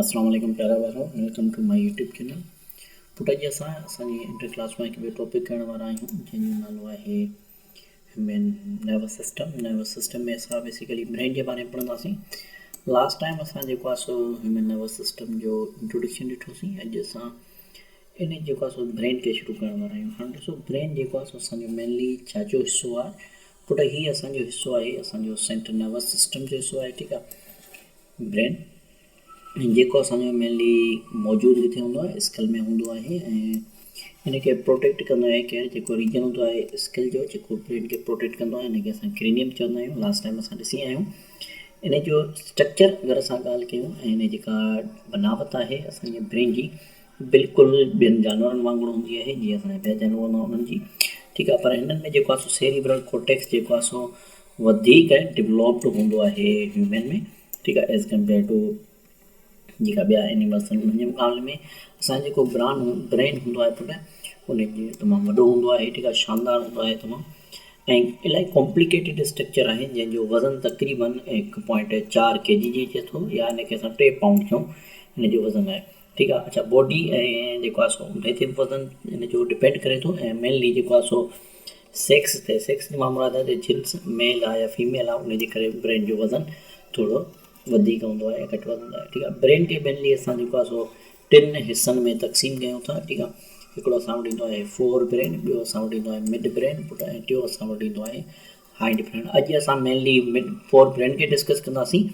اسلام عليڪم پيارا ڀائرو welcome to my YouTube channel پٽ اڄ اسان اسان جي انٽر ڪلاس ۾ هڪ ٻيو ٽاپڪ ڪرڻ وارا آهيون جنهن جو نالو آهي human nervous system nervous system ۾ اسان بيسيڪلي برين جي باري ۾ پڙهنداسين لاسٽ ٽائم اسان جيڪو آهي سو هيومن نروس سسٽم جو انٽروڊڪشن ڏٺوسين اڄ اسان ان جيڪو آهي سو برين کي شروع ڪرڻ وارا آهيون هاڻي ڏسو برين جيڪو آهي سو اسان جو مينلي ڇا جو حصو آهي پٽ هي اسان جو حصو آهي اسان جو سينٽر نروس سسٽم جو حصو آهي ٺيڪ آهي برين ۽ جيڪو اسان جو مينلي موجود ڪٿي هوندو آهي اسڪل ۾ هوندو آهي ۽ ان کي پروٽيڪٽ ڪندو آهي ڪير جيڪو ريجن هوندو آهي اسڪل جو جيڪو برين کي پروٽيڪٽ ڪندو آهي ان کي اسان ڪرينيم چوندا آهيون لاسٽ ٽائيم اسان ڏسي آيا آهيون ان جو اسٽرڪچر اگر اسان ڳالهه ڪيون ۽ ان جيڪا بناوت آهي اسان جي برين جي بلڪل ٻين جانورن وانگر هوندي آهي جيئن اسان جا ٻيا جانور هوندا آهن انهن جي ٺيڪ آهي پر هنن ۾ جيڪو آهي سو سيريبرل ڪورٽيڪس جيڪو آهي سو وڌيڪ ڊولوپڊ هوندو آهي هيومن ۾ ٺيڪ آهي ايز ڪمپيئر ٽو جيڪا ٻيا اينيملس آهن انهن جي مقابلي ۾ اسان جيڪو بران برين هوندو آهي پٽ ان جي تمام وڏو هوندو آهي ٺيڪ آهي شاندار هوندو آهي تمام ۽ الاهي ڪامپليڪيٽيڊ اسٽرڪچر آهي جنهن جو وزن تقريبن هڪ پوائنٽ چار ڪي جي جي اچي ٿو يا ان کي اسان ٽي پائونڊ چون ان جو وزن آهي ٺيڪ آ اڇا باڊي ۽ جيڪو آ سو هتي وزن ان جو ڊپينڊ ڪري ٿو ۽ مينلي جيڪو آ سو سيڪس تي سيڪس جي مان مراد آ ته جنس ميل آ يا فيميل آ ان جي ڪري برين جو وزن ٿورو وڌيڪ هوندو آ يا گهٽ وزن هوندو آ ٺيڪ آ برين کي مينلي اسان جيڪو آ سو ٽن حصن ۾ تقسيم ڪيون ٿا ٺيڪ آ هڪڙو اسان وٽ ايندو آهي فور برين ٻيو اسان وٽ ايندو آهي مڊ برين ۽ ٽيون اسان وٽ ايندو آهي هائي ڊفرنٽ اڄ اسان مينلي فور برينڊ کي ڊسڪس ڪنداسين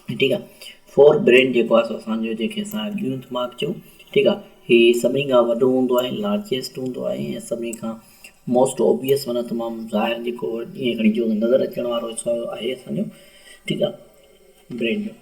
ٺيڪ آهي فور برينڊ جيڪو آهي سو اسانجو جنهن کي اسان اڳيون دماغ چئون ٺيڪ آهي هي سڀني کان وڏو هوندو آهي لارجيسٽ هوندو آهي ۽ سڀني کان موسٽ اوبيس معنيٰ تمامه ظاهر جيڪو ائين کڻي چئون ته نظر اچڻ وارو حصو آهي اسانجو ٺيڪ آهي برينڊ جو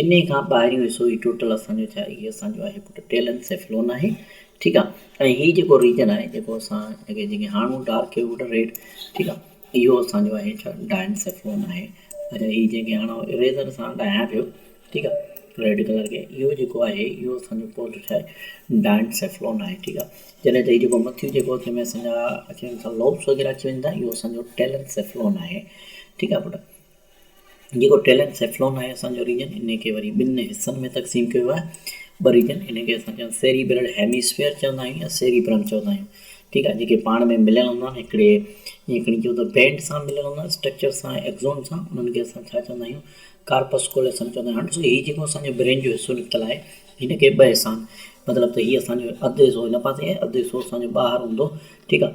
انهي کان ٻاهريون حصو هي ٽوٽل اسان جو ڇا هي اسان جو آهي پٽ ٽيلن سيفلون آهي ٺيڪ آ ۽ هي جيڪو ريجن آهي جيڪو اسان کي جيڪي هاڻو ڊارڪ ووٽر ريڊ ٺيڪ آ اهو اسان جو آهي ڇا ڊائن سيفلون آهي اچھا هي جيڪي هاڻو ايريزر سان ڊاهيان پيو ٺيڪ آ ريڊ ڪلر کي اهو جيڪو آهي اهو اسان جو پوٽ ڇا آهي ڊائن سيفلون آهي ٺيڪ آ جڏهن ته هي جيڪو مٿيون جيڪو جنهن ۾ اسان جا اچي وڃن ٿا لوبس وغيره اچي وڃن ٿا اهو اسان جو ٽيلن سيفلون آهي ٺيڪ آ پٽ جيڪو ٽيلنٽ سيفلون آهي اسان جو ريجن انهي کي وري ٻن حصن ۾ تقسيم ڪيو آهي ٻه ريجن انهن کي اسان چون سيريبرل هيميسفيئر چوندا آهيون يا سيريبرم چوندا آهيون ٺيڪ آهي جيڪي پاڻ ۾ مليل هوندا آهن هڪڙي ائين کڻي چئون ته بينڊ سان مليل هوندا آهن اسٽرڪچر سان ايڪزون سان انهن کي اسان ڇا چوندا آهيون ڪارپس ڪوليسم چوندا آهيون ڏسو هي جيڪو اسان جو برين جو حصو نڪتل آهي هن کي ٻه حصا آهن مطلب ته هي اسان جو اڌ حصو هن پاسي آهي اڌ حصو اسان جو ٻاهر هوندو ٺيڪ آهي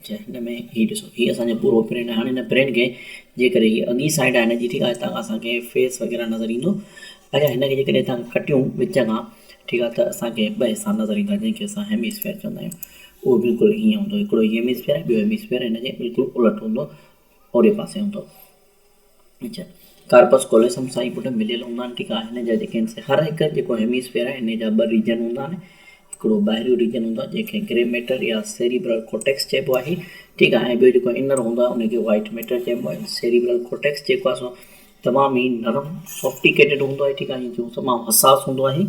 اچا هن ۾ هي ڏسو هي اسان جو پورو پرنٽ هاڻي هن پرنٽ کي جي ڪري هي اڳي سائيڊ آهي هن جي ٺيڪ آهي هتان کان اسان کي فيس وغيرا نظر ايندو اچا هن کي جي ڪري هتان ڪٽيون وچ کان ٺيڪ آهي ته اسان کي ٻه حصا نظر ايندا جنهن کي اسان هيميسفيئر چوندا آهيون اهو بلڪل هيئن هوندو هڪڙو هيميسفيئر ٻيو هيميسفيئر هن جي بلڪل الٽ هوندو اوري پاسي هوندو ڪارپس ڪوليسم سان ئي پٽ مليل هوندا آهن ٺيڪ آهي هن جا جيڪي آهن سي هر هڪ جيڪو هيميسفيئر آهي انهي جا ٻه ريجن هوندا آهن هڪڙو ٻاهريون ريجن هوندو آهي جنهن کي گري ميٽر يا سيريبرل ڪورٽيڪس چئبو آهي ٺيڪ آهي ۽ ٻيو جيڪو انر هوندو آهي انهي کي وائيٽ ميٽر چئبو آهي سيريبرل ڪورٽيڪس جيڪو آهي سو تمام ئي نرم سوفٽيڪيٽيڊ هوندو آهي ٺيڪ آهي جو تمام حساس هوندو آهي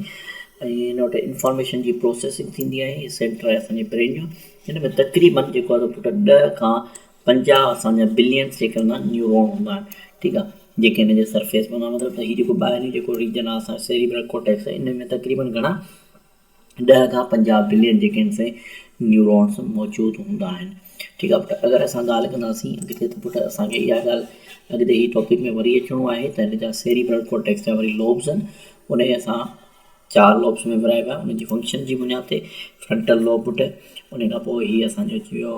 ۽ هن وٽ انفارميشن جي پروسيسنگ ٿيندي آهي سينٽر آهي اسان جي برين جو هن ۾ تقريبن جيڪو آهي سو پٽ ڏهه کان پنجاهه اسان جا بلين سيڪڙ مان نيورون هوندا آهن ٺيڪ آهي جيڪي هن جي سرفيس مان هوندا آهن مطلب ته هي جيڪو ٻاهريون جيڪو ريجن آهي اسان جو سيريبرل ڪورٽيڪس ان ۾ تقريبن گهڻا ڏهه کان پنجاهه بلين جيڪي آهن سي نيورونس موجود هوندا آهن ٺيڪ آهي پٽ اگر اسان ڳالهه ڪنداسين اڳتي ته پٽ اسان کي اها ڳالهه اڳتي هي ٽاپڪ ۾ وري اچڻو آهي ته هن جا سيريبرل ڪورٽيڪس جا وري لوبس آهن ان جي اسان چار لوبس ۾ ورهائبا آهن ان جي فنڪشن جي بنياد تي فرنٽل لوب پٽ ان کان پوء هي اسان جو اچي ويو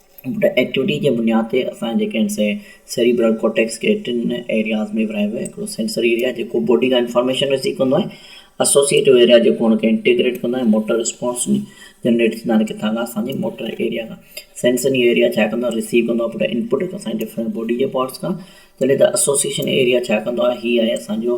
ايڪٽوٽي جي بنياد تي اسان جي جيڪي سي سيريبرل ڪورٽيڪس کي ٽن ايرياز ۾ ورهايو ويو آهي هڪڙو سينسري ايريا جيڪو باڊي کان انفارميشن رسيو ڪندو آهي اسوسيئيٽو ايريا جيڪو ان کي انٽيگريٽ ڪندو آهي موٽر رسپانس جنريٽ ٿيندا آهن ڪٿان کان اسان جي موٽر ايريا کان سينسري ايريا ڇا ڪندو آهي رسيو ڪندو آهي پورا انپٽ اسان جي ڊفرنٽ باڊي جي پارٽس کان جڏهن ته اسوسيئيشن ايريا ڇا ڪندو آهي هي آهي اسان جو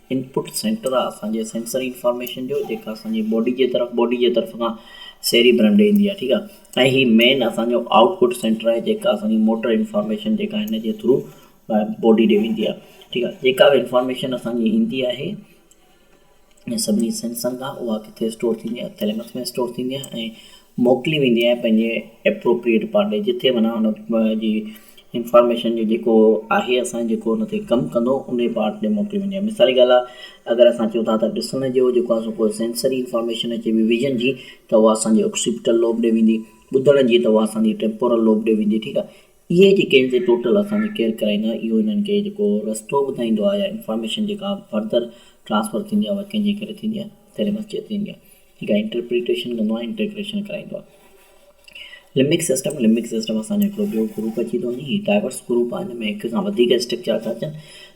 انپٽ سينٽر آهي اسان جي سينسري انفارميشن جو جيڪا اسان جي باڊي جي طرف باڊي جي طرف کان سيري برم ڏي ايندي آهي ٺيڪ آهي ۽ هي مين اسان جو آئوٽ پٽ سينٽر آهي جيڪا اسان جي موٽر انفارميشن جيڪا هن جي ٿرو باڊي ڏي ويندي آهي ٺيڪ آهي جيڪا به انفارميشن اسان جي ايندي آهي ۽ سڀني سينسن کان اها ڪٿي اسٽور ٿيندي آهي ٿيلمس ۾ اسٽور ٿيندي آهي ۽ موڪلي ويندي آهي پنهنجي Appropriate پارٽ ڏي جتي معنيٰ ان جي Information جو جيڪو آهي اسان جيڪو ان تي ڪم ڪندو انهي پارٽ ڏي موڪلي ويندي آهي مثال جي ڳالهه آهي اگر اسان چئون ٿا ته ڏسڻ جو جيڪو آهي سو ڪو Sensory Information اچي وئي Vision جي ته اها اسان جي Occipital Lobe ڏي ويندي ٻڌڻ جي ته اها اسان جي Temporal Lobe ڏي ويندي ٺيڪ آهي اهي جيڪي هن سين ٽوٽل اسان جي ڪيئر ڪرائيندا آهن اهو هنن کي جيڪو رستو ٻڌائيندو آهي يا انفارميشن جيڪا فردر ٽرانسفر ٿيندي آهي اها ڪنهن جي ڪري ٿيندي آهي تيري مسجد ٿيندي آهي جيڪا انٽرپريٽيشن ڪندو آهي انٽيگريشن ڪرائيندو آهي لمڪ سسٽم لمڪ سسٽم اسان جو هڪڙو ٻيو گروپ اچي ٿو وڃي هي ڊائيورس گروپ آهي هن ۾ هڪ کان وڌيڪ اسٽرڪچر ٿا اچن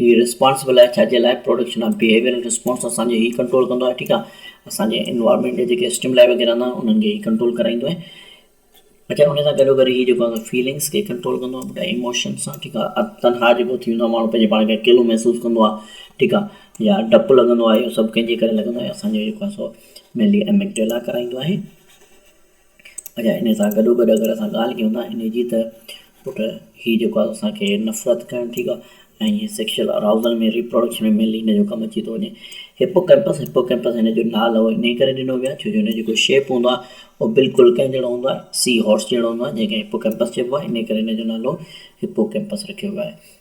هي ريسپانسبل آهي ڇا جي لاء پروڊڪشن آف بيهيويئرل ريسپانس اسان جو هي ڪنٽرول ڪندو آهي ٺيڪ آهي اسان جي انوائرمينٽ جا جيڪي اسٽيملائي وغيره هوندا آهن انهن کي هي ڪنٽرول ڪرائيندو آهي اچا ان سان گڏو گڏ هي جيڪو اسان فيلنگس کي ڪنٽرول ڪندو آهي ٻڌاء ايموشنس سان ٺيڪ آهي تنها جيڪو ٿي ويندو آهي ماڻهو پنهنجي پاڻ کي اڪيلو محسوس ڪندو آهي ٺيڪ آهي يا ڊپ لڳندو آهي اهو سڀ ڪنهن جي ڪري لڳندو آهي اسان جو جيڪو آهي سو مينلي ايميڪڊيلا ڪرائيندو آهي اچا انهي سان گڏوگڏ اگر اسان ڳالهه ڪيون ٿا انهي جي ته پٽ هي جيڪو آهي اسان کي نفرت ڪرڻ ٺيڪ آهي ۽ هي سيڪشل اراوزل ۾ ريپراڊڪشن ۾ مينلي هن جو ڪم اچي ٿو وڃي هپوڪيمپس هپوڪيمپس هن جو نالو انهي ڪري ڏنو ويو آهي ڇو جو هن جو جيڪو شيپ هوندو آهي اهو بلڪل ڪنهن جهڙو هوندو آهي سي هارس جهڙو هوندو آهي جنهن کي هپوڪيمپس چئبو آهي انهي ڪري هن جو نالو هپوڪيمپس رکيو ويو آهي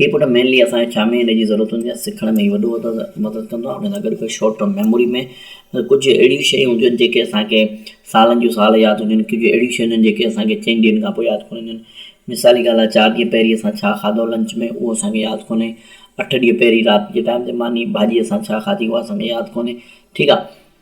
هي پٽ مينلي اسان کي ڇا ۾ ان جي ضرورت هوندي آهي سکڻ ۾ هي وڏو مدد ڪندو آهي ان سان گڏ گڏ شارٽ ٽرم ميموري ۾ ڪجهه اهڙيون شيون هونديون آهن جيڪي اسان کي سالن جون سال ياد هونديون آهن ڪجهه اهڙيون شيون هونديون آهن جيڪي اسان کي چئن ڏينهن کان پوء ياد ڪونه اينديون آهن مثال جي ڳالهه لاء چار ڏينهن پهرين اسان ڇا کاڌو لنچ ۾ اهو اسان کي ياد ڪونهي اٺ ڏينهن پهرين رات جي ٽائيم تي ماني ڀاڄي اسان ڇا کاڌي اهو اسان کي ياد ڪونهي ٺيڪ آهي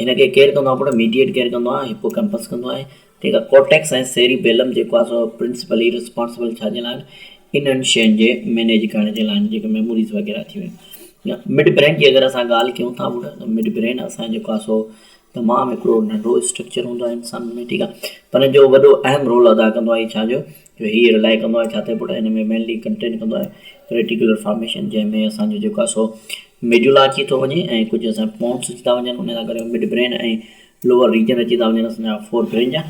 هن کي ڪير ڪندو آهي پٽ؟ ميڊيئيٽ ڪير ڪندو آهي؟ هپوڪيمپس ڪندو آهي. ٺيڪ آهي. ڪورٽيڪس ۽ سيري بيلم جيڪو آهي سو پرنسپلي ريسپانسبل ڇا جي لاء آهن؟ انهن شين جي مينيج ڪرڻ جي لاء آهن جيڪي ميموريز وغيره ٿي ويون. مڊ برين جي اگر اسان ڳالهه ڪيون ٿا پٽ ته مڊ برين اسان جيڪو آهي سو تمام هڪڙو ننڍو اسٽرڪچر هوندو آهي انسان ۾ ٺيڪ آهي. پر جو وڏو اهم رول ادا ڪندو آهي ڇا جو جو هي رلاء ڪندو آهي ڇاتي پٽ هن ۾ مينلي ڪنٽين ڪندو آهي ريٽيڪولر فارميشن جنهن ۾ اسان جو جيڪو آهي سو ميڊولا اچي ٿو وڃي ۽ ڪجهه اسان جا پونس اچي ٿا وڃن ان سان ڪري مڊ برين ۽ لوور ريجن اچي ٿا وڃن اسان جا فور برين جا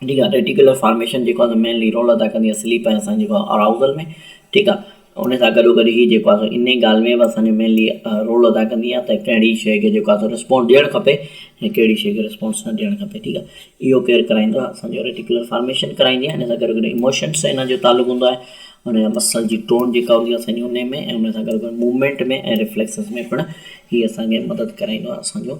ٺيڪ آهي ريٽيڪولر فارميشن جيڪو آهي سو مينلي رول ادا ڪندي آهي سليپ ۽ اسان جيڪو آهي اراوزل ۾ ٺيڪ آهي ان سان گڏوگڏ هي جيڪو آسو ان ئي ڳالهه ۾ به اسان جو مينلي رول ادا ڪندي آهي ته ڪهڙي شيء کي جيڪو آسو رسپونس ڏيڻ کپي ۽ ڪهڙي شيء کي رسپونس نه ڏيڻ کپي ٺيڪ آهي اهو ڪير ڪرائيندو آهي اسان جو ريٽيڪولر فارميشن ڪرائيندي آهي ان سان گڏوگڏ اموشنس سان ان جو تعلق هوندو آهي ان جا مسل جي ٽون جيڪا هوندي آهي اسان جي ان ۾ ۽ ان سان گڏوگڏ موومينٽ ۾ ۽ ريفليڪسز ۾ پڻ هي اسان کي مدد ڪرائيندو آهي اسان جو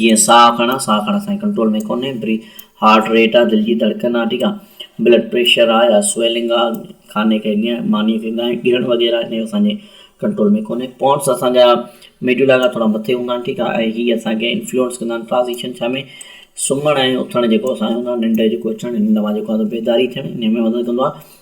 جيئن ساهه کڻان، ساهه کڻڻ اسان جي ڪنٽرول ۾ ڪونهي، بري هارٽ ريٽ آهي، دل جي ڌڙڪن آهي، ٺيڪ آهي، بلڊ پريشر آهي يا سويلنگ آهي، کاني کي ڳهڻ، مانيء کي ڳهڻ، ڳهڻ وغيره آهي، اسان جي ڪنٽرول ۾ ڪونهي، پونس اسان جا ميڊولا کان ٿورا مٿي هوندا آهن، ٺيڪ آهي، ۽ هي اسان کي انفلوئنس ڪندا آهن، ٽرانزيشن ڇا ۾ سمهڻ ۽ اٿڻ جيڪو اسان جو هوندو آهي، ننڊ جيڪو اچڻ، ننڊ مان جيڪو آهي سو بيداري ٿيڻ، انهيء ۾ مدد ڪندو آهي.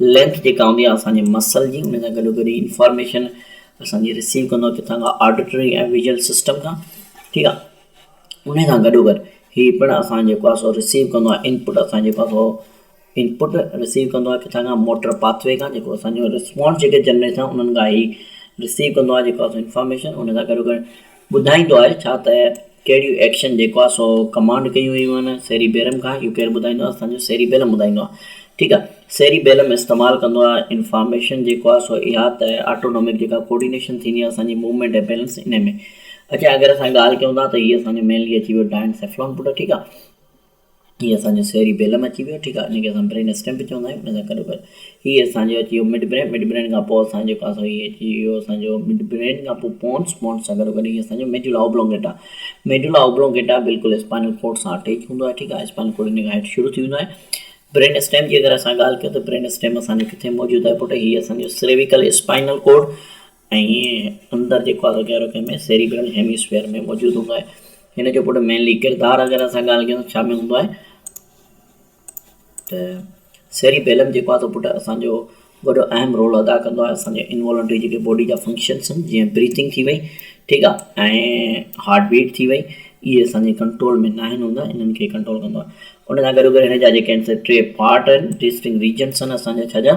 لينٿ جيڪا هوندي آهي اسان جي مسل جي ان سان گڏو گڏ هي انفارميشن اسان جي رسيو ڪندو ڪٿان کان آڊيٽري ۽ ويجل سسٽم کان ٺيڪ آ ان سان گڏو گڏ هي پڻ اسان جيڪو آ سو رسيو ڪندو آ انپٽ اسان جيڪو آ سو انپٽ رسيو ڪندو آ ڪٿان کان موٽر پاٿوي کان جيڪو اسان جو رسپانس جيڪي جنريٽ ٿا انهن کان هي رسيو ڪندو آ جيڪو آ سو انفارميشن ان سان گڏو گڏ ٻڌائيندو آهي ڇا ته ڪهڙيون ايڪشن جيڪو آهي سو ڪمانڊ ڪيون ويون آهن سيري بيلم کان اهو ڪير ٻڌائيندو آهي اسان جو سيري بيلم ٻڌائيندو آهي ٺيڪ آهي سيري بيلم استعمال ڪندو آهي انفارميشن جيڪو آهي سو اها ته آٽونومڪ جيڪا ڪوڊينيشن ٿيندي آهي اسان جي موومينٽ ۽ بيلنس ان ۾ اچي اگر اسان ڳالهه ڪيون ٿا ته هي اسان جو مينلي اچي ويو ڊائنسيفلون پٽ ٺيڪ آهي هي اسان جو سيري بيلم اچي ويو ٺيڪ آ ان کي اسان برين اسٽيم به چوندا آهيون ان سان گڏو گڏ هي اسان جو اچي ويو مڊ برين مڊ برين کان پوء اسان جيڪو آهي سو هي اچي ويو اسان جو مڊ برين کان پوء پونس پونس سان گڏو گڏ هي اسان جو ميڊولا اوبلونگيٽا ميڊولا اوبلونگيٽا بلڪل اسپائنل ڪورڊ سان اٽيچ هوندو آهي ٺيڪ آهي اسپائنل ڪورڊ ان کان هيٺ شروع ٿي ويندو آهي برين اسٽيم جي اگر اسان ڳالهه ڪيون ته برين اسٽيم اسان جو ڪٿي موجود آهي پٽ هي اسان جو سريويڪل اسپائنل ڪورڊ ۽ ائين اندر جيڪو آهي سو گهرو ڪنهن ۾ سيريبرل هيميسفيئر ۾ موجود هوندو آهي هن جو پٽ مينلي ڪردار اگر اسان ڳالهه ڪيون ڇا ۾ هوندو آهي ته سيريبيلم جيڪو آهي سو پٽ اسانجو وڏو اهم رول ادا ڪندو آهي اسانجي انوالنٽري جيڪي باڊي جا فنڪشنس آهن جيئن بريٿنگ ٿي وئي ٺيڪ آهي ۽ هارٽ بيٽ ٿي وئي اهي اسانجي ڪنٽرول ۾ نه آهن هوندا انهن کي ڪنٽرول ڪندو آهي ان سان گڏ گڏ هن جا جيڪي آهن سي ٽي پارٽ آهن ٽي سٽنگ ريجنس آهن اسانجا ڇا جا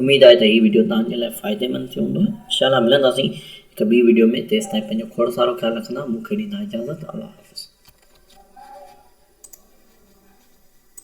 اميد آهي ته هي وڊيو توهان جي لاء فائديمند ٿيو هوندو انشاء الله ملنداسين هڪ ٻي وڊيو ۾ تيستائين پنهنجو کوڙ سارو خيال رکندا مون کي ڏيندا اجازت الله حافظ.